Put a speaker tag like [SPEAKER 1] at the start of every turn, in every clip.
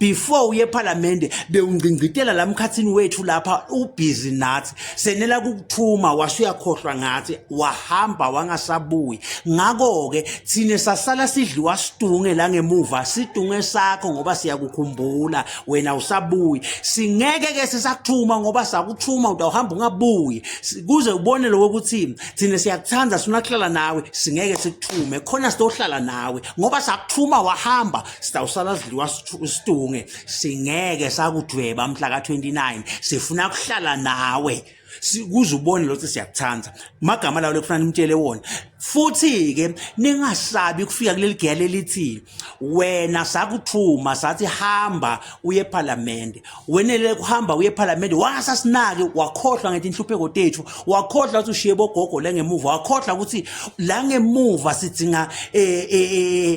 [SPEAKER 1] before uye ephalamende bewungcingcitela la mkhathini wethu lapha ubhizi nathi senela kukuthuma washo uyakhohlwa ngathi wahamba wangasabuyi ngakho-ke thina sasala sidliwa sidunge la ngemuva sidunge sakho ngoba siyakukhumbula wena usabuyi singeke-ke sisakuthuma ngoba sakuthuma utawuhamba ungabuyi kuze ubone lokho ukuthi thina siyakuthanda sifuna kuhlala nawe singeke sikuthume khona sitohlala nawe ngoba sakuthuma wahamba sitawusala sidliwa situnge singeke sakudweba mhla ka-29 sifuna kuhlala nawe kuze ubone lothi siyakuthanda magama lawo lekufuna nimtshele wona futhi-ke ningasabi kufika kuleli giya lelithi wena sakuthuma sathi hamba uye ephalamende wenele kuhamba uye ephalamende wasasinaki wakhohlwa ngethi inhlupheko tethu wakhohlwa ukuthi ushiye bogogo la ngemuva wakhohlwa ukuthi la ngemuva sidinga um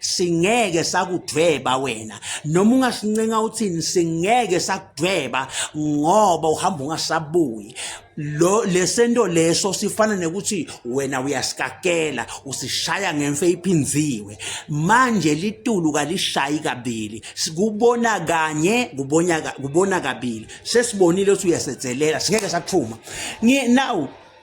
[SPEAKER 1] singeke sakudweba wena noma ungasincenga uthini singeke sakudweba ngoba uhamba ungasabuyi lo lesento leso sifana nekuthi wena uyasikakela usishaya ngemfe iphinziwe manje litulu kalishayi kabili sikubona kanye kubona kubona kabili sesibonile ukuthi uyasetselela singeke sakuphuma now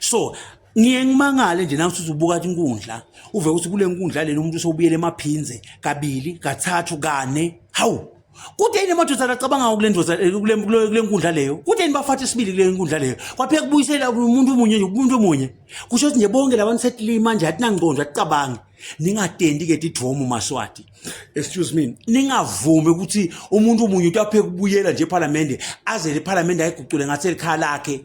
[SPEAKER 1] so ngiye ngimangale nje nangithi uzubuka athi inkundla uve ukuthi kule nkundla lena umuntu usewubuyele emaphinze kabili kathathu kane hawu kude yini emadodana acabanga ngakule ndoda eh, kule nkundla leyo kude yini bafathe isibili kule nkundla leyo kwapheka kubuyisela umuntu omunye nje umuntu omunye kusho ukuthi nje bonke labantu setilima nje atinangqondo aticabangi ningatendi ke tidromu maswati excuse me ningavumi ukuthi umuntu omunye uyapheka ubuyela nje ephalamende azele iphalamende ayigucule ngathi elikhaya lakhe